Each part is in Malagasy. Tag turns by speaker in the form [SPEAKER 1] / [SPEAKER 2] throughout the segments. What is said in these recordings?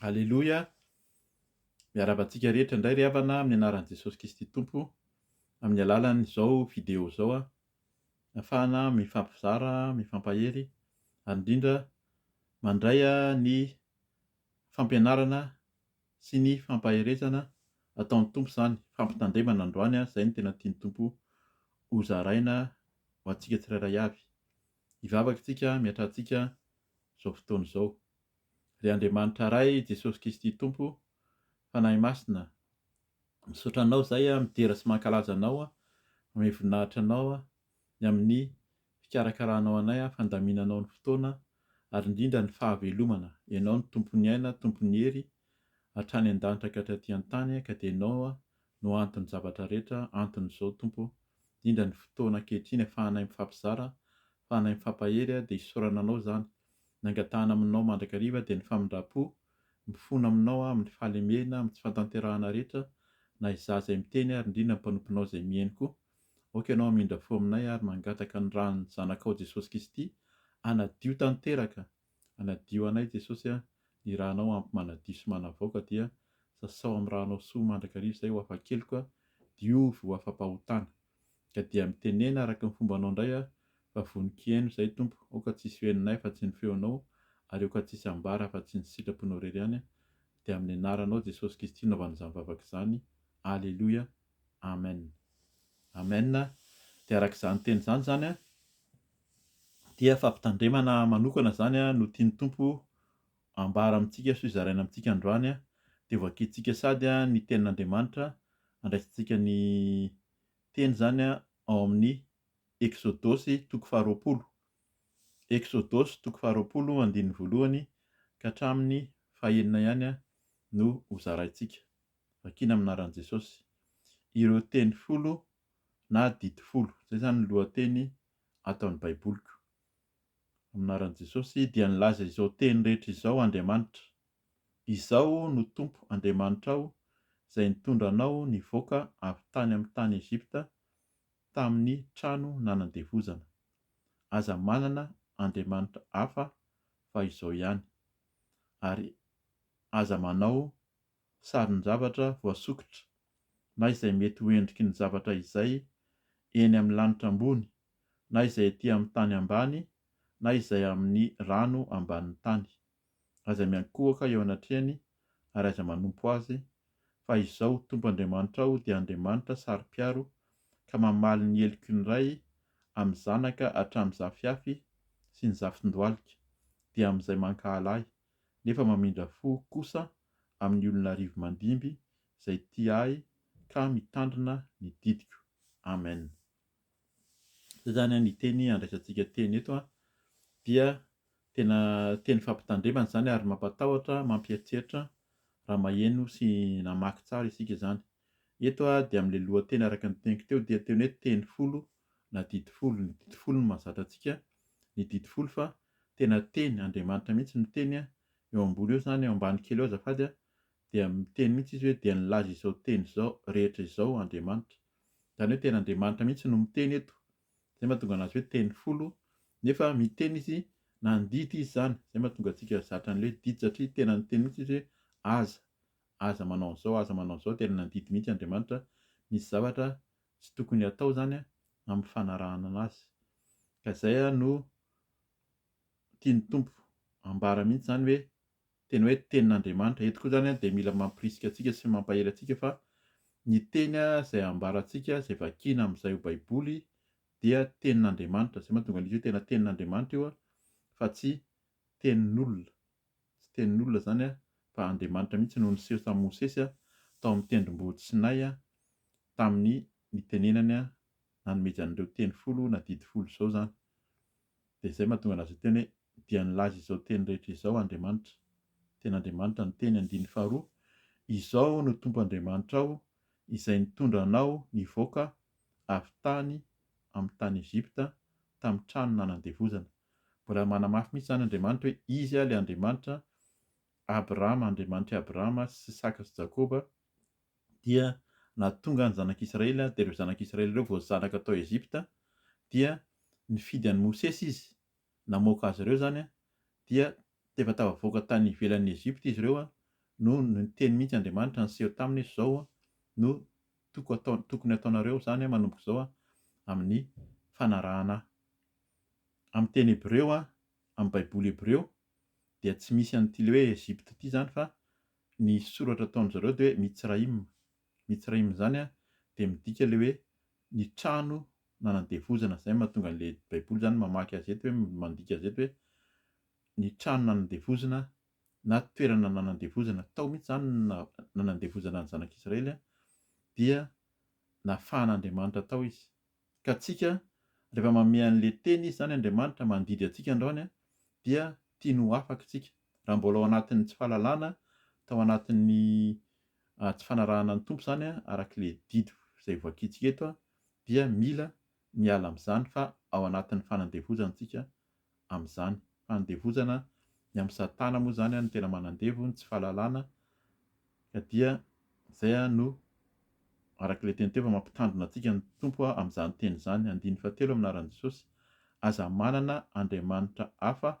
[SPEAKER 1] Aleloia! Miarahaba antsika rehetra indray ry havana amin'ny anaran'i Jesosy Kristy Tompo amin'ny alalan'izao video izao aho afahana mifampizara, mifampahery ary indrindra mandray ny fampianarana sy ny fampaherezana ataon'ny Tompo izany, fampitandremana androany, izay no tena tian'ny Tompo hozaraina ho antsika tsirairay avy. Hivavaka isika miatrantsika izao fotoana izao. Ry Andriamanitra Ray, Jesosy Kristy Tompo, Fanahy Masina, misaotra Anao izay aho midera sy mankalaza Anao aho, mamehy voninahitra Anao aho, ny amin'ny fikarakaranao anay aho, fandaminanao ny fotoana, ary indrindra ny fahavelomana. Ianao no Tompon'ny aina, Tompon'ny hery, hatrany an-danitra ka hatraty an-tany, ka dia Ianao no anton'ny zavatra rehetra anton'izao Tompo ô, indrindra ny fotoana ankehitriny afahanay mifampizara, afahanay mifampahery dia isaorana Anao izany, ny angatahana aminao mandrakariva dia ny famindrampo, mifona aminao aho amin'ny fahalemehena, amin'ny tsy fantanterahana rehetra, na izaho izay miteny ary indrindra ny mpanomponao izay mihaino koa, aoka Ianao hamindra fo aminay ary mangataka ny ran'ny Zanakao Jesosy Kristy hanadio tanteraka Hanadio anay Jesosy a, ny ranao ampy manadio sy manavoaka dia sasao amin'ny ranao soa mandrakariva izay ho afa-keloka a, diovy ho afa-pahotana. Ka dia mitenena araka ny fombanao indray aho fa vonon-kihaino izay Tompo, aoka tsisy ho henonay afa tsy ny feonao ary aoka tsisy ambara afa tsy ny sitrapnao irery ihany a, dia amin'ny anaranao Jesosy Kristy naovana izany vavaka izany, Aleloia, Amen. Amen, dia araka izany teny izany izany a, Dia fampitandremana manokana izany no tian'ny Tompo ambara amintsika sy hozaraina amintsika androany, dia hovakiantsika sady ny Tenin'Andriamanitra, andraisantsika ny teny izany ao amin'ny Eksodosy toko faharoapolo, Eksodosy toko faharoapolo andininy voalohany ka hatramin'ny fahenina ihany no hozaraintsika, vakiana amin'ny anaran'i Jesosy ireo teny folo na didy folo, izay izany ny lohateny ato amin'ny Baiboliko. Amin'ny anaran'i Jesosy dia nilaza izao teny rehetra izao Andriamanitra, Izaho no Tompo Andriamanitrao izay nitondra anao nivoaka avy tany amin'ny tany Egypta tamin'ny trano nanandevozana. Aza manana andriamanitra hafa fa izao ihany, ary aza manao sarin-javatra voasokitra na izay mety ho endriky ny zavatra izay eny amin'ny lanitra ambony na izay ety amin'ny tany ambany na izay amin'ny rano ambanin'ny tany. Aza miankohoka eo anatrehany ary aza manompo azy, fa Izaho Tompo Andriamanitrao dia Andriamanitra saro-piaro ka mamaly ny heloky ny ray amin'ny zanaka hatramin'ny zafiafy sy ny zafin-dohalika, dia amin'izay mankahala Ahy. nefa mamindra fo kosa amin'ny olon'arivo mandimby izay tia ahy ka mitandrina ny didiko. Amen. Zay zany ny teny andraisantsika teny eto dia tena teny fampitandremana izany ary mampatahotra, mampieritreritra raha maheno sy namaky tsara isika izany. Eto dia amin'ilay lohateny araka ny teniko teo dia teny hoe teny folo na didy folo, ny didy folo no mahazatra antsika ny didy folo fa tena teny, Andriamanitra mihitsy miteny eo ambony eo izany, eo ambany kely eo azafady, dia miteny mihitsy izy hoe dia nilaza izao teny izao rehetra izao Andriamanitra, izany hoe tena Andriamanitra mihitsy no miteny eto, izay mahatonga anazy hoe teny folo, nefa miteny izy na nididy izy izany, izay mahatonga antsika zatra an'ilay didy satria tena niteny mihitsy izy hoe aza, aza manao an'izao, aza manao an'izao, tena nandidy mihitsy Andriamanitra, misy zavatra tsy tokony hatao izany an, amin'ny fanarahana anazy. Ka izay an no tian'ny Tompo ambara mihitsy izany hoe tena hoe tenin'Andriamanitra. Eto koa izany an dia mila mampirisika antsika sy mampahery antsika fa ny teny an izay ambarantsika, izay vakiana amin'izay ho baiboly dia tenin'Andriamanitra. Izay mahatonga an'izy io tena tenin'Andriamanitra io an, fa tsy tenin'olona, tsy tenin'olona izany fa Andriamanitra mihitsy no niseho tamin'i Mosesy tao amin'ny tendrombohitra Sinay tamin'ny nitenenany nanomezany an'ireo teny folo na didy folo izao izany. Dia izay mahatonga anazy hiteny hoe dia nilaza izao teny rehetra izao Andriamanitra, Tenin'Andriamanitra ny teny andininy faharoa, Izao aho no Tompo Andriamanitrao izay nitondra anao nivoaka avy tany amin'ny tany Egypta tamin'ny trano nanan-devozana. Mbola manamafy mihitsy izany Andriamanitra hoe Izy ilay Andriamanitra Abrahama, Andriamanitr'i Abrahama sy Isaka sy Jakoba, dia nahatonga ny zanak'Israely, dia ireo zanak'Israely ireo vao zanaka tao Egypta, dia nifidy an'i Mosesy Izy, namoaka azy ireo izany, dia efa tafavoaka tany ivelan'ny Egypta izy ireo no niteny mihitsy Andriamanitra niseho taminy hoe izao no tokony ataonareo izany manomboka izao amin'ny fanarahana ahy. amin'ny teny hebreo, amin'ny baiboly hebreo dia tsy misy an'ity le hoe Egypte ity izany fa ny soratra ataon-dry zareo dia hoe Mitsraïm. Mitsraïm izany dia midika le hoe ny trano nanandevozana. Izay no mahatonga an'ilay baiboly izany mamaky azy eto hoe, mandika azy eto hoe ny trano nanandevozina na toerana nanandevozana. Tao mihitsy izany no na- nanandevozana ny zanak'Israely dia nafahan'Andriamanitra tao izy. Ka tsika rehefa manome anle teny izy zany Andriamanitra mandidy antsika androany dia tiany ho afaka tsika raha mbola ao anatin'ny tsy fahalalana tao anatin'ny tsy fanarahana ny Tompo zany arak'le didy zay hovakintsika eto dia mila miala amzany fa ao anatin'ny fanandevozany tsika amin'izany. Fanandevozana ny amin'i Satana moa izany no tena manandevo ny tsy fahalalana ka dia izay no araka ilay teny teo fa mampitandrina antsika ny Tompo amin'izany teny izany. Andininy fahatelo amin'ny anaran'i Jesosy, Aza manana andriamanitra hafa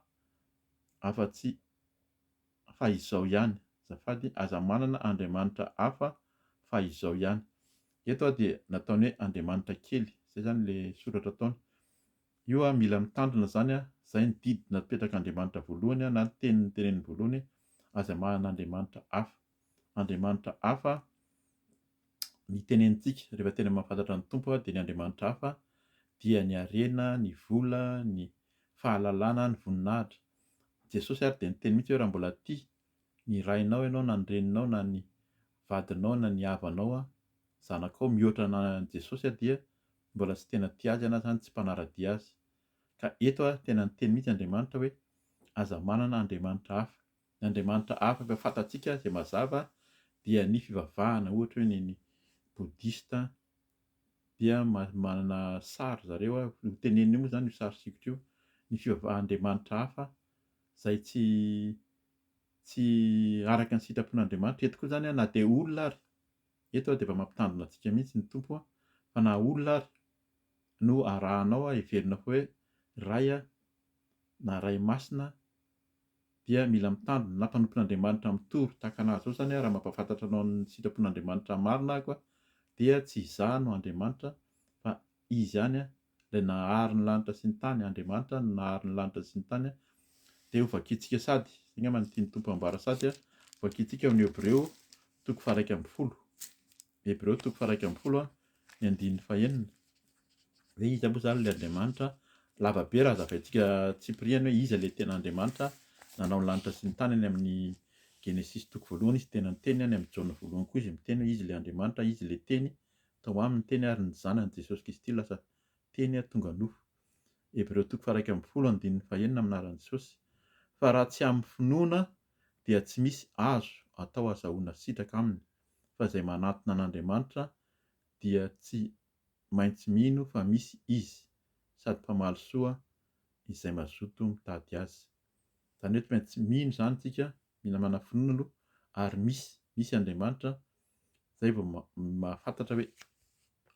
[SPEAKER 1] afa-tsy fa izao ihany. Azafady, Aza manana andriamanitra hafa fa izao ihany. Eto dia nataony hoe andriamanitra kely, izay izany ilay soratra ataony. Io a mila mitandrina zany a zay ny didy napetraka Andriamanitra voalohany a na ny teny noteneniny voalohany azy amahana Andriamanitra hafa Andriamanitra hafa ny tenenitsika rehefa tena mahafantatra ny Tompo a dia ny Andriamanitra hafa dia ny harena ny vola ny fahalalana ny voninahitra Jesosy ary dia niteny mihitsy hoe raha mbola tia ny rainao ianao na ny reninao na ny vadinao na ny havanao a zanakao mihoatra an'i Jesosy a dia mbola tsy tena tia azy na izany tsy mpanara-dia azy. Ka eto ary tena niteny mihitsy Andriamanitra hoe, aza manana andriamanitra hafa. Ny andriamanitra hafa efa fantatsika izay mazava dia ny fivavahana, ohatra hoe ny ny Bodista dia manana sary ry zareo, io teneniny io moa izany io sary sikotra io, ny fivavaha andriamanitra hafa izay tsy tsy araka ny sitrapon'Andriamanitra. Eto koa izany na dia olona ary Eto ary dia efa mampitandrina antsika mihitsy ny Tompo a! fa na olona ary no arahanao a, heverina fa hoe Ray a, na Ray Masina a, dia mila mitandrina, na mpanompon'Andriamanitra mitory tahaka an'ahy izao izany a, raha mampahafantatra anao ny sitrapon'Andriamanitra marina aho ka, dia tsy izaho no Andriamanitra fa Izy ihany a, Ilay nahary ny lanitra sy ny tany, Andriamanitra no nahary ny lanitra sy ny tany, dia hovakitsika sady, izay angamba no tian'ny Tompo hambara, sady hovakitsika ao amin'ny Hebreo toko faharaika ambin'ny folo, Hebreo toko faharaika ambin'ny folo, ny andininy fahenina, hoe iza moa izany ilay Andriamanitra, lava be raha hazavaintsika tsipiriany hoe iza ilay tena Andriamanitra nanao ny lanitra sy ny tany any amin'ny Genesisy toko voalohany izy tena niteny, any amin'ny Jaona voalohany koa izy miteny hoe izy ilay Andriamanitra, izy ilay teny, Tao aminy teny ary ny zanany Jesosy Kristy lasa teny ary tonga nofo. Hebreo toko faha-iraika ambin'ny folo andininy fahenina Minaran'i Jesosy fa raha tsy amin'ny finoana dia tsy misy azo atao azahoana sitraka aminy fa izay manatona an'Andriamanitra dia tsy maintsy mino fa misy Izy sady mpamaly soa izay mazoto mitady Azy. Izany hoe tsy maintsy mino izany isika, mila manafinoana aloha ary misy, misy Andriamanitra Izay vao mahafantatra hoe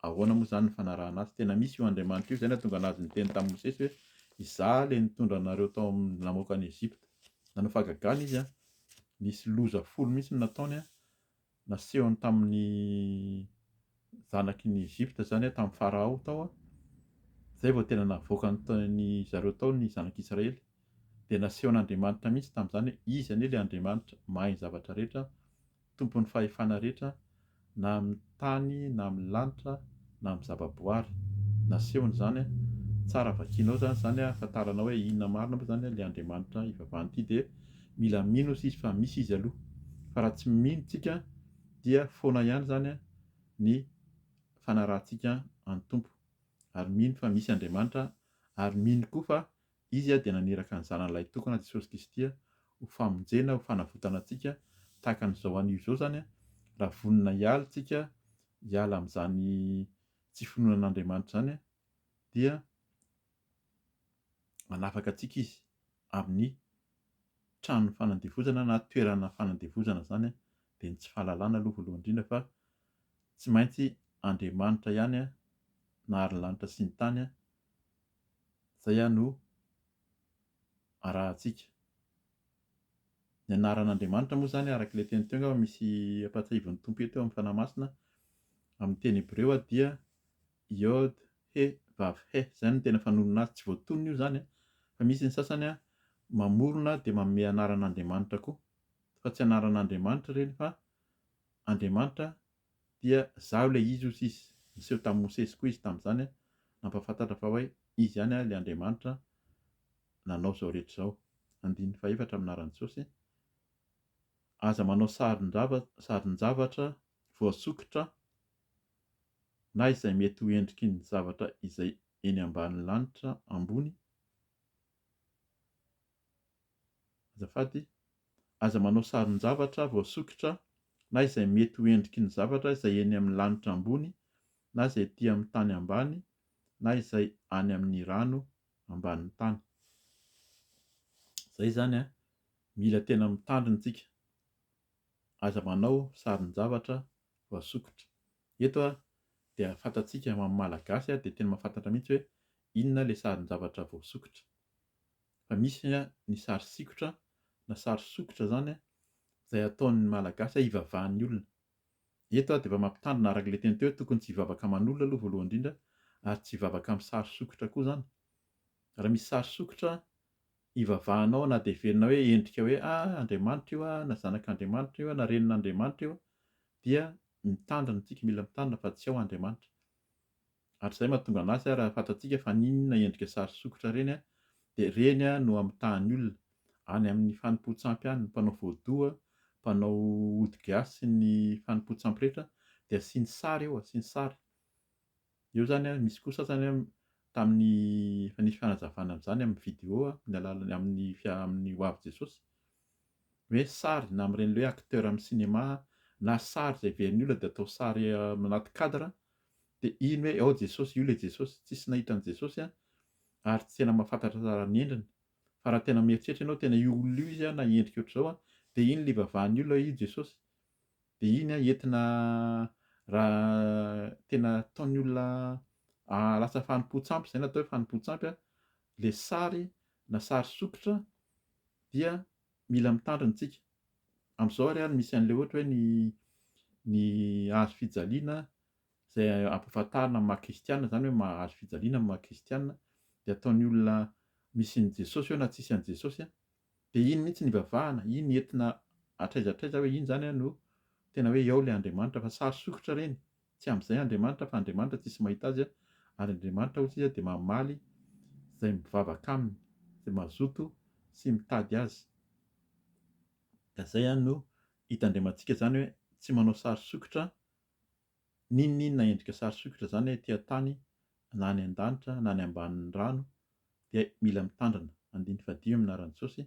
[SPEAKER 1] ahoana moa izany ny fanarahana azy. Tena misy io Andriamanitra io, izay no nahatonga anazy niteny tamin'i Mosesy hoe izaho ilay nitondra anareo tao amin'ny namoaka an'i Egypta. Nanao fahagagana izy, nisy loza folo mihitsy no nataony, nasehony tamin'ny zanaky ny Egypta izany, tamin'i Farao tao, izay vao tena navoakany ry zareo tao ny zanak'i Israely. Dia nasehon'Andriamanitra mihitsy tamin'izany hoe izy anie ilay Andriamanitra mahay ny zavatra rehetra, Tompon'ny fahefana rehetra, na amin'ny tany na amin'ny lanitra na amin'ny zava-boary. Nasehony izany, tsara vakianao izany izany, ahafantaranao hoe inona marina moa izany ilay Andriamanitra ivavahana ity dia mila mino hozy izy fa misy izy aloha, fa raha tsy mino isika dia foana ihany izany ny fanarahantsika an'ny Tompo, ary mino fa misy Andriamanitra ary mino koa fa Izy dia naniraka ny Zanany Lahitokana, Jesosy Kristy, ho famonjena, ho fanavotana antsika, tahaka an'izao anio izao izany, raha vonona hiala isika, hiala amin'izany tsy finoana an'Andriamanitra izany, dia manafaka antsika Izy amin'ny tranon'ny fanandevozana na toerana fanandevozana izany, dia ny tsy fahalalana aloha voalohany indrindra fa tsy maintsy Andriamanitra ihany na ary ny lanitra sy ny tany Izay ihany no arahantsika. Ny anaran'Andriamanitra moa izany araka ilay teny teo angamba misy ampahatsiahivin'ny Tompo eto eo amin'ny Fanahy Masina, amin'ny teny hebreo dia Yod he vav he, izay no tena fanonona azy, tsy voatonona io izany an, fa misy ny sasany mamorona dia manome anaran'Andriamanitra koa, fa tsy anaran'Andriamanitra ireny fa Andriamanitra dia izaho ilay izy hoy izy, niseho tamin'i Mosesy koa izy tamin'izany nampahafantatra fa hoe izy ihany ilay Andriamanitra nanao izao rehetra izao. Andininy fahefatra amin'ny anaran'i Jesosy, Aza manao sarin-javatra voasokitra na izay mety ho endriky ny zavatra izay eny ambanin'ny lanitra ambony Azafady, aza manao sarin-javatra voasokitra na izay mety ho endriky ny zavatra izay eny amin'ny lanitra ambony na izay ety amin'ny tany ambany na izay any amin'ny rano ambanin'ny tany. Izay izany an, mila tena mitandrina isika. Aza manao sarin-javatra voasokitra. Eto an, dia fantatsika amin'ny maha-malagasy dia tena mahafantatra mihitsy hoe inona ilay sarin-javatra voasokitra. Fa misy ny sary sikotra na sary sokitra izany izay ataon'ny Malagasy hivavahan'ny olona. Eto aho dia mba mampitandrina araka ilay teny teo hoe tokony tsy hivavaka aman'olona aloha voalohany indrindra ary tsy hivavaka amin'ny sary sokitra koa izany. Raha misy sary sokitra ivavahanao na dia heverina hoe endrika hoe a Andriamanitra io a na zanak'Andriamanitra io na renin'Andriamanitra io dia mitandrina isika mila mitandrina fa tsy ao Andriamanitra. Ary izay mahatonga an'azy ary hahafantatsika fa n'inona endrika sary sokitra ireny dia ireny no amitahan'ny olona, any amin'ny fanompoan-tsampy any, ny mpanao voadoha, mpanao ody gasy sy ny fanompoan-tsampy rehetra dia asiany sary eo, asiany sary. Eo izany, misy koa sasany tamin'ny efa nisy fanazavana an'izany amin'ny video amin'ny alalan'ny amin'ny fia- amin'ny hoavy Jesosy, hoe sary na amin'ireny ilay hoe acteur amin'ny cinéma na sary izay heverin'ny olona dia atao sary anaty cadre de iny hoe ao Jesosy io le Jesosy tsisy nahita an'i Jesosy an ary tsy tena mahafantatra tsara ny endriny fa raha tena mieritreritra ianao tena io olona io izy an na endrika ohatr'izao an de iny le ivavahan'ny olona io Jesosy de iny an entina raha tena ataon'ny olona ahalasa fanompoan-tsampy izay natao hoe fanompoan-tsampy an le sary na sary sokitra dia mila mitandrina isika Amin'izao ary any misy an'ilay ohatra hoe ny ny hazo fijaliana izay ampahafantarina amin'ny maha kristiana izany hoe maha hazo fijaliana ny maha kristiana dia ataon'ny olona misy an'i Jesosy eo na tsisy an'i Jesosy dia iny mihitsy no ivavahana, iny entina hatraiza hatraiza hoe iny izany no tena hoe ao ilay Andriamanitra fa sary sokitra ireny Tsy amin'izay Andriamanitra fa Andriamanitra tsisy mahita azy ary Andriamanitra hoy izy dia mamaly izay mivavaka aminy, izay mazoto sy mitady azy. Ka izay no hitandramantsika izany hoe tsy manao sary sokitra n'inon'inona endrika sary sokitra izany ety an-tany na any an-danitra na any ambanin'ny rano dia mila mitandrina, andininy fahadimy amin'ny anaran'i Jesosy,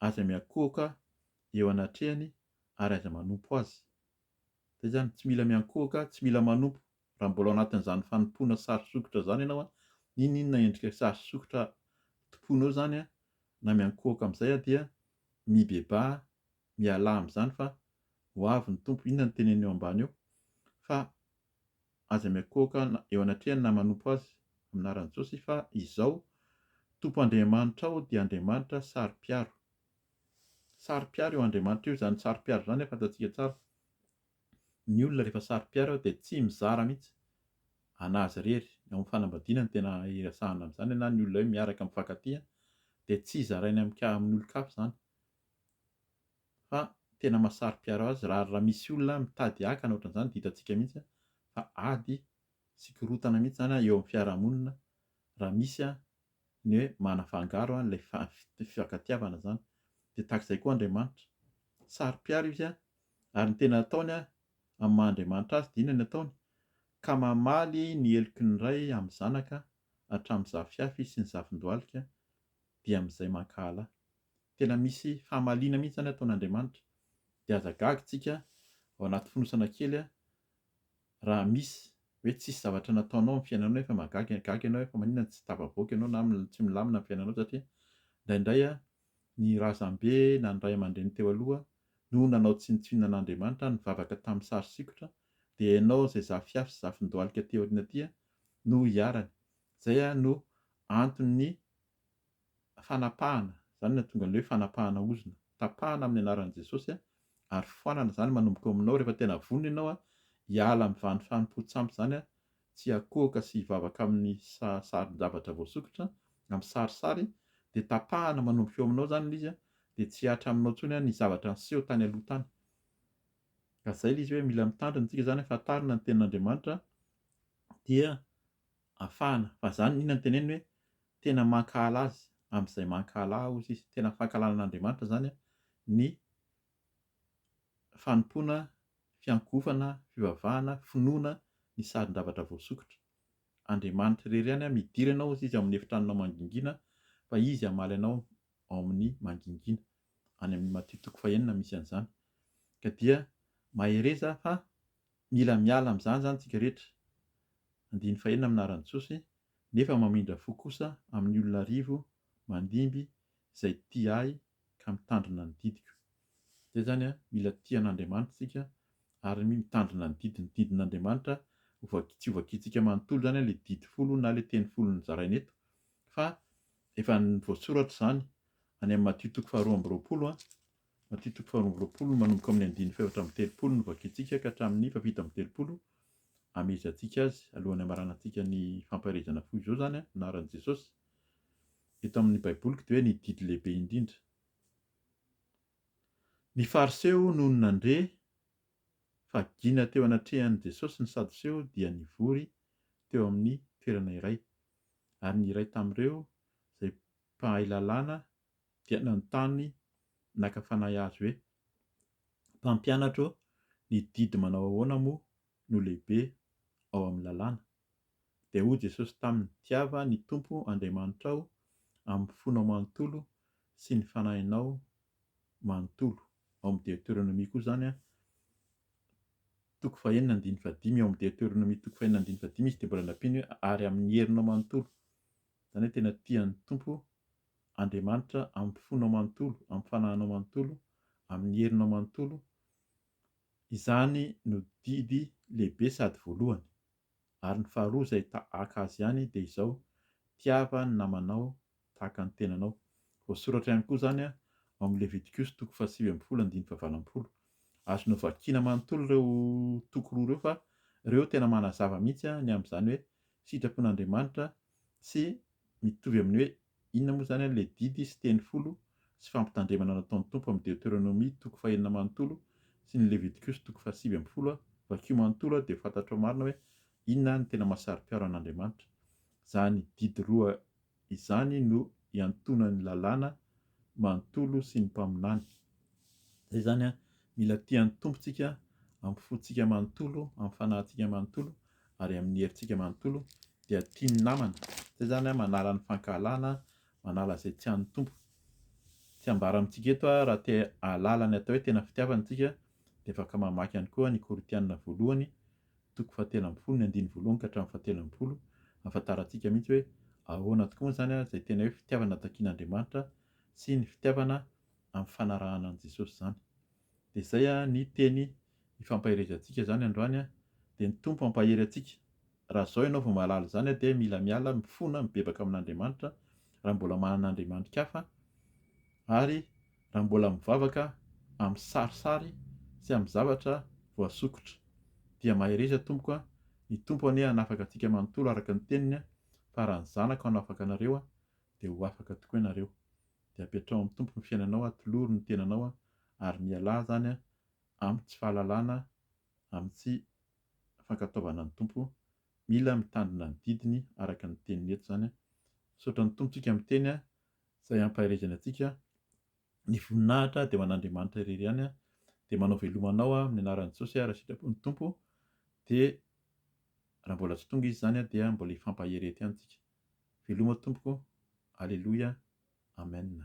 [SPEAKER 1] aiza miankohoka eo anatrehany ary aiza manompo azy. Dia izany, tsy mila miankohoka, tsy mila manompo, raha mbola ao anatin'izany fanompoana sary sokitra izany ianao an, n'inon'inona endrika sary sokitra tompoinao izany an, na miankohoka amin'izay an, dia mibebaha, mialà amin'izany fa ho avy ny Tompo, inona no teneniny eo ambany eo? fa aza miankohoka eo anatrehany na manompo Azy amin'ny anaran'i Jesosy fa izao Tompo Andriamanitrao dia Andriamanitra saro-piaro, Saro-piaro eo Andriamanitra io izany saro-piaro izany a fantatsika tsara. Ny olona rehefa saro-piaro eo dia tsy mizara mihitsy an'azy irery. Eo amin'ny fanambadiana no tena iresahana an'izany na ny olona hoe miaraka mifankatia dia tsy zaraina amin'ka- amin'olon-kafa izany fa tena maha saro-piaro azy raha raha misy olona mitady hakana ohatran'izany dia hitantsika mihitsy fa ady sy korontana mihitsy izany eo amin'ny fiarahamonina raha misy an ny hoe manafangaro an ilay fifankatiavana zany dia tahaka izay koa Andriamanitra saro-piaro izy an ary ny tena ataony an amin'ny maha Andriamanitra azy dia inona ny ataony ka mamaly ny heloky ny ray amin'ny zanaka hatramin'ny zafiafy sy ny zafindohalika dia amin'izay mankahala tena misy famaliana mihintsy zany ataon'Andriamanitra dia aza gaga tsika ao anaty fonosana kely an Raha misy hoe tsisy zavatra nataonao amin'ny fiainanao nefa magaga gaga ianao hoe fa maninona tsy tafavoaka ianao na tsy milamina ny fiainanao satria indraindray ny razambe na ny ray aman-dreny teo aloha no nanao tsinontsinona an'Andriamanitra, nivavaka tamin'ny sary sikotra, dia ianao izay zafiafy sy zafindohalika aty aoriana aty no iharany. Izay no anton'ny. fanapahana, izany no nahatonga an'ilay hoe fanapahana ozona, tapahana amin'ny anaran'i Jesosy ary foanana izany manomboka ao aminao rehefa tena vonona ianao hiala amin'izany fanompoan-tsampy izany, tsy hiakohoka sy hivavaka amin'ny sarin-javatra voasokitra, amin'ny sarisary, dia tapahana manomboka eo aminao izany ilay izy dia tsy hihatra aminao intsony ny zavatra niseho tany aloha tany. Ka izay ilay izy hoe mila mitandrina isika izany hahafantarana ny tenin'Andriamanitra dia afahana. Fa izany inona no teneniny hoe tena mankahala Azy, amin'izay mankahala Ahy, hozy Izy. Tena fankahalana an'Andriamanitra izany ny fanompoana, fiankohofana, fivavahana, finoana ny sarin-javatra voasokitra. Andriamanitra irery ihany midira ianao, hozy Izy, ao amin'ny efitranonao mangingina, fa Izy hamaly anao ao amin'ny mangingina. Any amin'ny Matio toko fahenina misy an'izany. Ka dia mahereza fa Mila miala amin'izany izany isika rehetra, andininy fahenina amin'ny anaran'i Jesosy, nefa mamindra fo kosa amin'ny olona arivo mandimby izay tia ahy ka mitandrina ny didiko. Izay izany an, mila tia an'Andriamanitra isika ary mitandrina ny didiny. Ny didin'Andriamanitra hovaki, tsy hovakiantsika manontolo izany an, ilay didy folo na ilay teny folo nozaraina eto, fa efa voasoratra izany any amin'ny Matio toko faharoa amby roapolo an, Matio toko faharoa amby roapolo, manomboka amin'ny andininy fahefatra amby telopolo no vakintsika ka hatramin'ny fahafito amby telopolo hamehezantsika azy alohan'ny hamaranantsika ny fampaherezana fohy izao izany an, anaran'i Jesosy. Eto amin'ny baiboliko dia hoe ny didy lehibe indrindra. Ny fariseo nony nandre fa gina teo anatrehan'i Jesosy ny sadoseo dia nivory teo amin'ny toerana iray ary ny iray tamin'ireo izay mpahay lalàna dia nanontany naka fanahy azy hoe, Mpampianatra ô, ny didy manao ahoana moa no lehibe ao amin'ny lalàna? Dia hoy Jesosy taminy, Tiava ny Tompo Andriamanitrao amin'ny fonao manontolo sy ny fanahinao manontolo. Ao amin'ny Deoteronomia koa izany an, toko fahenina andininy fahadimy, ao amin'ny Deoteronomia toko fahenina andininy fahadimy izy dia mbola nampiany hoe, ary amin'ny herinao manontolo. Izany hoe tena tia ny Tompo Andriamanitra amin'ny fonao manontolo, amin'ny fanahinao manontolo, amin'ny herinao manontolo, izany no didy lehibe sady voalohany. Ary ny faharoa izay tahaka azy ihany dia izao, tiava ny namanao tahaka ny tenanao. Voasoratra ihany koa izany ao amin'ny Levitikosy toko fahasivy ambin'ny folo andininy fahavalo ambin'ny folo. Azonao vakiana manontolo ireo toko roa ireo fa ireo tena manazava mihitsy ny amin'izany hoe sitrapon'Andriamanitra sy mitovy amin'ny hoe inona moa izany ilay didy sy teny folo sy fampitandremana nataon'ny Tompo amin'ny Deoteronomia toko fahenina manontolo sy ny Levitikosy toko fahasivy ambin'ny folo vakio manontolo dia ho fantatrao marina hoe inona no tena mahasaro-piaro an'Andriamanitra izany didy roa Izany no iantonan'ny lalàna manontolo sy ny mpaminany. Zay izany an, mila tia ny Tompo tsika amin'ny fontsika manontolo, amin'ny fanahintsika manontolo ary amin'ny herintsika manontolo, dia tia ny namana. Zay izany an, manala ny fankahalana, manala izay tsy an'ny Tompo. Tsy ambara amintsika eto an, raha te hahalala ny atao hoe tena fitiavana tsika dia afaka mamaky ihany koa ny Korintiana voalohany, toko fahatelo ambin'ny folo ny andininy voalohany ka hatramin'ny fahatelo ambin'ny folo, ahafantarantsika mihitsy hoe ahoana tokoa moa izany ary izay tena hoe fitiavana takin'Andriamanitra sy ny fitiavana ampifanarahana an'i Jesosy izany. Dia izay ny teny ifampaherezantsika izany androany, dia ny Tompo hampahery antsika. Raha izao ianao vao mahalala izany dia mila miala, mifona, mibebaka amin'Andriamanitra, raha mbola manana andriamandrikafa, ary. raha mbola mivavaka amin'ny sarisary sy amin'ny zavatra voasokitra dia mahereza tompoko a, ny Tompo anie hanafaka antsika manontolo araka ny teniny fa raha ny zanako hanafaka anareo dia ho afaka tokoa ianareo. Dia apetraho amin'ny Tompo ny fiainanao atoloro ny tenanao ary mialà zany amin'ny tsy fahalalana amin'ny tsy fankatoavana ny Tompo mila mitandrina ny didiny araka ny teniny eto zany misaotra ny Tompo tsika miteny izay hampaherezany antsika, ny voninahitra dia ho an'Andriamanitra irery ihany, dia manao veloma anao aho amin'ny anaran'i Jesosy ary raha sitrapon'ny Tompo dia raha mbola tsy tonga izy izany dia mbola hifampahery ety ihany tsika, veloma Tompoko, Aleloia, Amen.